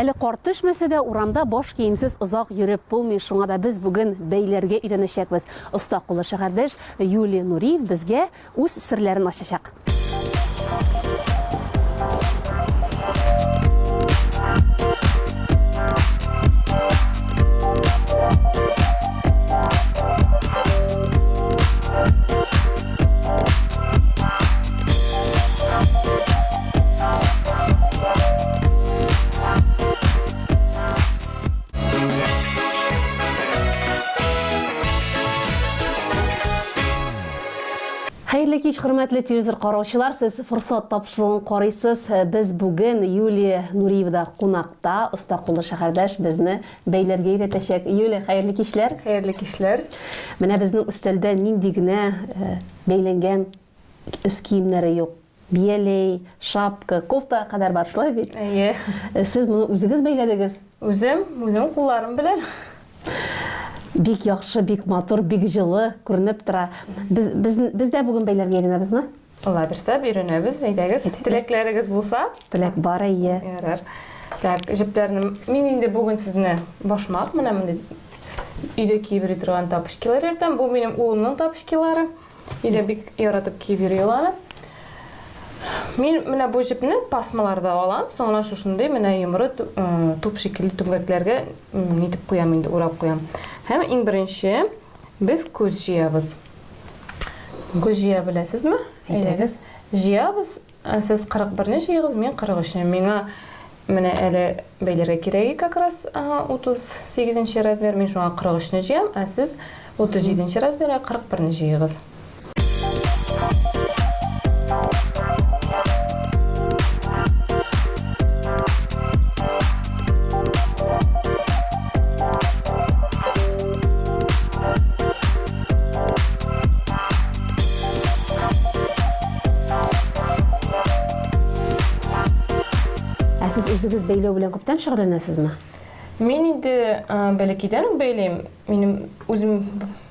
Әле кар төшмәсә дә, урамда баш киемсез озак йөреп булмый, шуңа да без бүген бәйләргә өйрәнәчәкбез. Оста куллы шәһәрдәш Юлия Нуриев безгә үз серләрен ачачак. Хәерле кич, хөрмәтле телевизор караучылар. Сез форсат тапшыруын карыйсыз. Без бүген Юлия Нуриевда кунакта, оста куллы шәһәрдәш безне бәйләргә өйрәтәчәк. Юлия, хәерле кичләр. Хәерле кичләр. Менә безнең өстәлдә нинди генә э, бәйләнгән өс киемнәре юк. Бияләй, шапка, кофтага кадәр бар, шулай бит? Әйе. Сез моны үзегез бәйләдегез? Үзем, үзем кулларым белән. Бик яхшы, бик матур, бик җылы күренеп тора. Без без без дә бүген бәйләргә генәбезме? Алла бирсә, биренәбез. Әйдәгез, теләкләрегез булса. Теләк бар, әйе. Ярар. Так, җепләрне мин инде бүген сезне башмак менә мондый өйдә киеп йөри торган тапочкилар йөртәм. Бу минем улымның тапочкилары. Өйдә бик яратып киеп йөри ул аны. Мин менә бу җепне пасмаларда алам, соңына шушындый менә йомры туп шикелле түмгәкләргә нитеп куям инде, урап куям. Һәм иң беренче без күз җыябыз. Күз җыя беләсезме? Әйдәгез. Җыябыз, Сез кырык берне җыегыз, мин кырык өчне. Миңа менә әле бәйләргә кирәк иде как раз утыз сигезенче размер. Мин шуңа кырык өчне җыям, ә сез утыз җиденче размерга кырык берне җыегыз. Ә сез үзегез бәйләү белән күптән шөгыльләнәсезме? Мин инде бәләкәйдән үк бәйлим. Минем үзем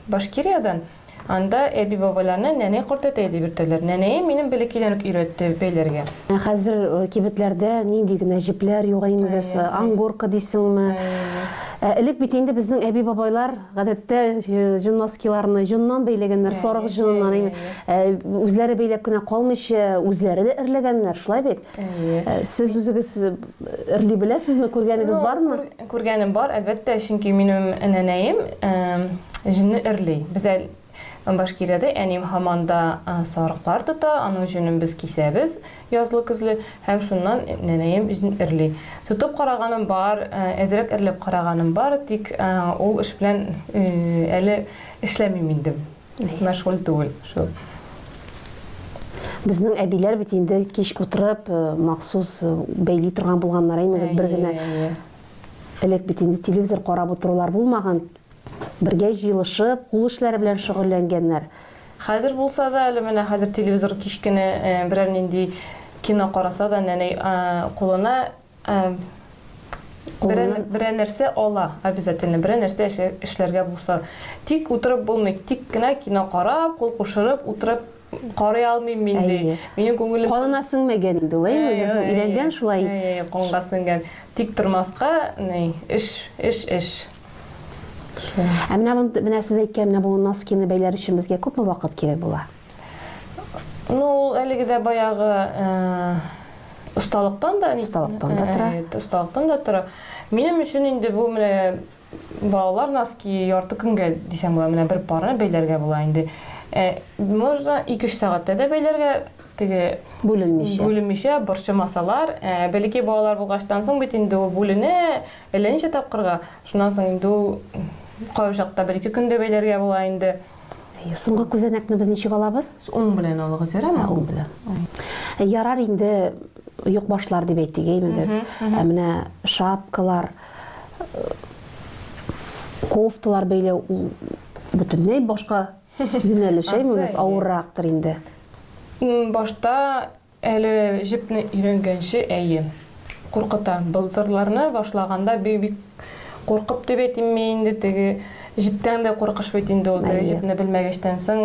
Башкириядән. Анда әби бабаларны нәнәй кортәтәй дип йөртәләр. Нәнәем минем бәләкәйдән үк өйрәтте бәйләргә. Ә хәзер э, кибетләрдә нинди генә җепләр юга инде, ангорка дисеңме? Ә элек бит инде безнең әби бабайлар Гадәттә җон носкиларны җоннан бәйләгәннәр, сарык җоныннан. Үзләре бәйләп кенә калмыйча, үзләре дә эрләгәннәр, шулай бит? Сез үзегез эрли беләсезме, күргәнегез бармы? Күргәнем бар, әлбәттә, чөнки минем әнәнәем җонны эрли. Без Башкиредә әним һаман да сарыклар тота, аның җонын без кисәбез язлы-көзле һәм шуннан нәнәем җн эрли. Тотып караганым бар, әзрәк эрләп караганым бар, тик ул эш белән әле эшләмим инде, мәшгуль түгел шул. Безнең әбиләр бит инде кич утырып, махсус бәйли торган булганнар, әймәгез, бер генә элек бит инде телевизор карап утырулар булмаган, Бергә җыелышып, кул эшләре белән шөгыльләнгәннәр. Хәзер булса да, әле менә хәзер телевизор кичкене берәр нинди кино караса да, нәнәй кулына берәр нәрсә ала, обязательно, берәр нәрсә эшләргә булса. Тик утырып булмый, тик кенә кино карап, кул кушырып утырып Карый алмыйм мин ди. Минем күңелем Канына сеңмәгән инде ул, әйе, өйрәнгән шулай. Әйе, канга сеңгән. Тик тормаска, ни, эш, эш, эш. Ә менә менә сез әйткән менә бу носкины бәйләр өчен безгә күпме вакыт кирәк була? Ну, ул әлеге дә баягы осталыктан да, осталыктан да тора. Осталыктан да тора. Минем өчен инде бу менә Балалар носки ярты көнгә дисәң була, менә бер пары бәйләргә була инде. Ә, можно ике-өч сәгатьтә дә бәйләргә, теге Бүленмичә. бүленмичә борчымасалар. Ә, бәләкәй балалар булгачтан соң бит инде ул бүленә, әллә ничә тапкырга. Шуннан соң инде ул кайвчакта бер-ике көн дә бәйләргә була инде. Әйе, соңгы күзәнәкне без ничек алабыз? Уң белән алыгыз, ярар Ә, уң белән. Ә, Ярар инде юк башлар дип әйтик, әймегез. Ә менә шапкалар, э, кофталар бәйләү ул бөтенләй башка юнәлеш, әймегез, авыррактыр инде. Башта Әле җепне өйрәнгәнче, әйе. Куркыта. Болдырларны башлаганда бик-бик куркып дип әйтимме инде, теге җептән дә куркыш бит инде ул. Теге җепне белмәгәчтән соң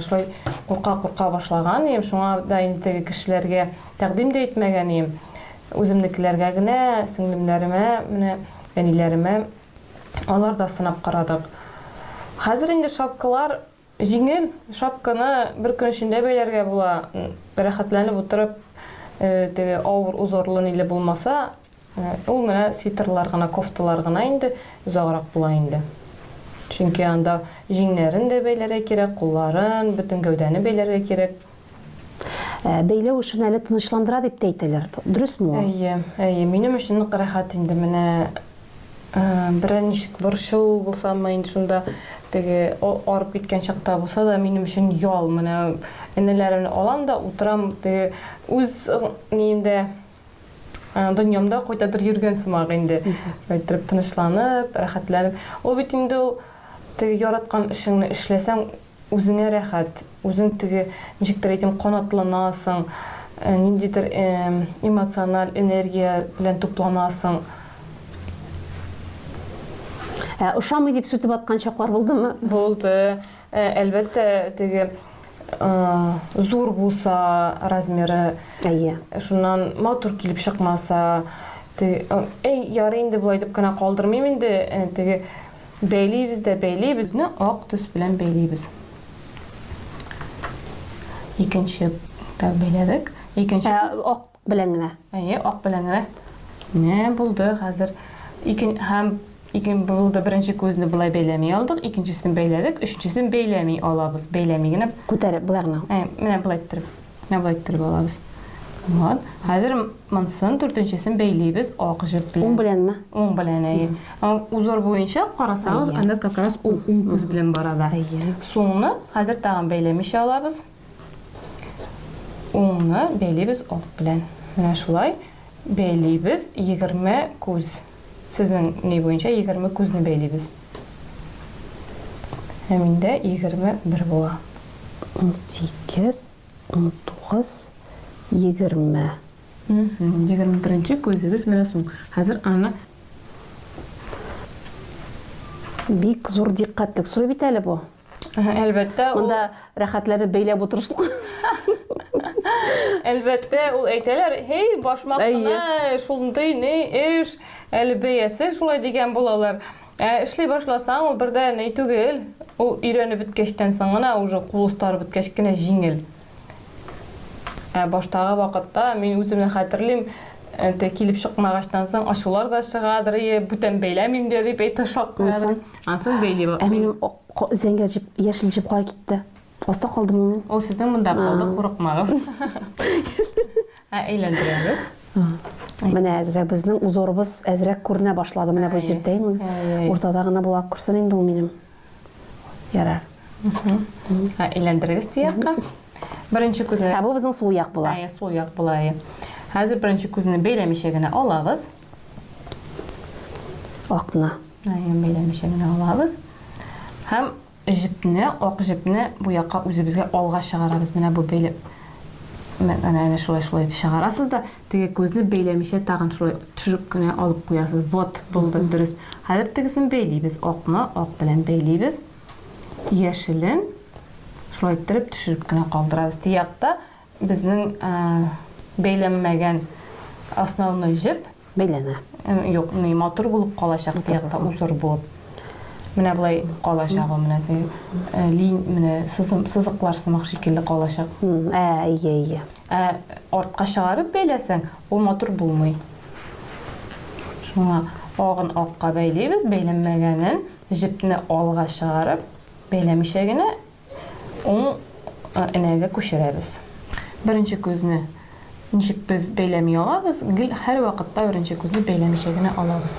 шулай курка-курка башлаган идем. Шуңа да инде теге кешеләргә тәкъдим дә итмәгән идем. Үземнекеләргә генә, сеңлемнәремә, менә әниләремә, аларда сынап карадык. Хәзер инде шапкалар Җиңел шапканы бер көн эчендә бәйләргә була, рәхәтләнеп утырып, теге авыр узорлы ниле булмаса, ул менә свитерлар гына, кофталар гына инде озаграк була инде. Чөнки анда җиңнәрен дә бәйләргә кирәк, кулларын, бөтен гәүдәне бәйләргә кирәк. Ә, бәйләү өчен әле тынычландыра дип тә әйтәләр. Дөресме ул? Әйе, әйе. Минем өчен нык рәхәт инде менә э, берәр ничек борчу булсамы инде шунда теге арып киткән чакта булса да минем өчен ял менә энеләремне алам да утырам теге үз ниемдә э, дөньямда кайтадыр йөргән сымак инде әйттереп тынычланып рәхәтләнеп ул бит инде ул теге яраткан эшеңне эшләсәң Үзеңә рәхәт, үзең теге, ничектер әйтим, канатланасың, ниндидер эмоциональ энергия белән тупланасың. Ә ошамый дип сүтеп аткан чаклар булдымы? Булды. Әлбәттә, теге зур булса размеры. Әйе. Шуннан матур килеп чыкмаса, әй, ярый инде болай дип кенә калдырмыйм инде, теге Бәйлибез дә бәйлибез. Ны ак төс белән бәйлибез. Икенче так бәйләдек. Икенче Ә, ак белән генә. Әйе, ак белән генә. Менә булды хәзер. Икен һәм икен булды беренче күзне былай бәйләми алдык, икенчесен бәйләдек, өченчесен бәйләми алабыз. Бәйләми генә. Күтәреп болай гына. Ә, менә былай иттереп. Авайтер балабыз. Вот. Хәзер монсын дүртенчесен бәйлибез ак җеп белән. Уң беләнме? Уң белән, әйе. Узор буенча карасагыз, аны как раз ул уң күз белән бара да. Сулны хәзер тагын бәйләмичә алабыз. Уңны бәйлибез ак белән. Менә шулай бәйлибез 20 күз. Сезнең ни буенча егерме күзне бәйлибез. Ә миндә егерме бер була. Унсигез, унтугыз, егерме. Егерме беренче күзегез менә соң. Хәзер аны Бик зур дикъкатьлек сорый бит әле бу. Әлбәттә, ул... Монда рәхәтләре бәйләп утырыштык. Әлбәттә, ул әйтәләр, һей, башмак кына, шундый ни эш, әле бәясе шулай дигән булалар. Ә эшли башласаң, ул бердә ни түгел. Ул өйрәнеп беткәчтән соң гына, уже кул остары беткәч кенә җиңел. Ә баштагы вакытта мин үземне хәтерлим, әнте килеп чыкмагачтан соң ачулар да чыгадыр, ие, бүтән бәйләмим дә дип әйтә шаккадыр. Ансын бәйли. Ә минем зәңгәр җеп, яшел җеп кая китте? Аста калдымы мин? Ул сезнең монда калды, курыкмагыз. Ә әйләндерәбез. Менә әзрәк безнең узорыбыз әзрәк күренә башлады. Менә бу җирдә имин. Уртада гына була күрсен инде ул минем. Ярар. Ә әйләндерегез тиякка. Беренче күзне. Ә бу безнең сул як була. Әйе, сул як була. Хәзер беренче күзне бәйләмичә генә алабыз. Акны. Әйе, бәйләмичә генә алабыз. Һәм җепне, ак җепне бу якка үзебезгә алга чыгарабыз. Менә бу бәйләп. Менә шулай шулай чыгарасыз да Теге күзне бәйләмичә тагын шулай төшереп кенә алып куясыз. Вот, булды, дөрес. Хәзер тегесен бәйлибез. Акны ак белән бәйлибез. Яшелен шулай иттереп төшереп кенә калдырабыз. Тиякта безнең бәйләнмәгән основной җеп бәйләнә. Юк, ни матур булып калачак тиякта узор булып. Менә болай калачак ул менә теге лин менә сызым сызыклар сымак шикелле калачак. Ә, ие, ие. Ә артка чыгарып бәйләсәң, ул матур булмый. Шуңа агын акка бәйлибез, бәйләнмәгәнен җепне алга чыгарып, бәйләмичә генә уң энәгә күчерәбез. Беренче күзне ничек без бәйләми алабыз? Гел һәрвакытта беренче күзне бәйләмичә генә алабыз.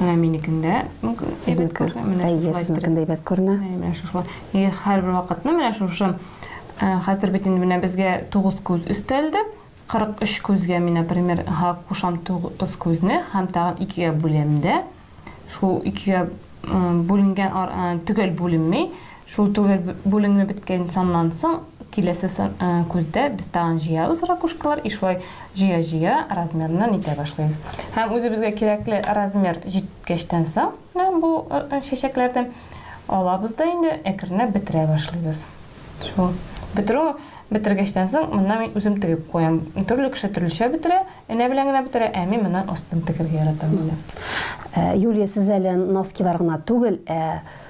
Менә минекендә әйбәт күренә. Менә әйе, сезнекендә әйбәт күренә. Менә шушылай. И һәрбер вакытны менә шушы э, хәзер бит инде менә безгә 9 күз өстәлде. 43 күзгә мин, например, га кушам 9 күзне һәм тагын икегә бүләм дә. Шул икегә э, бүленгән э, төгәл бүленми, Шул түгел бүлеме беткән саннан соң киләсе күздә без тагын җыябыз ракушкалар и шулай җыя-җыя размерыннан итә башлыйбыз. Һәм үзебезгә кирәкле размер җиткәчтән соң бу чәчәкләрдә алабыз да инде әкренләп бетерә башлыйбыз. Шул бетерү бетергәчтән соң моннан мин үзем тегеп куям. Төрле кеше төрлечә бетерә, энә белән генә бетерә, ә мин моннан астын тегергә яратам инде. Юлия, сез әле носкилар гына түгел, ә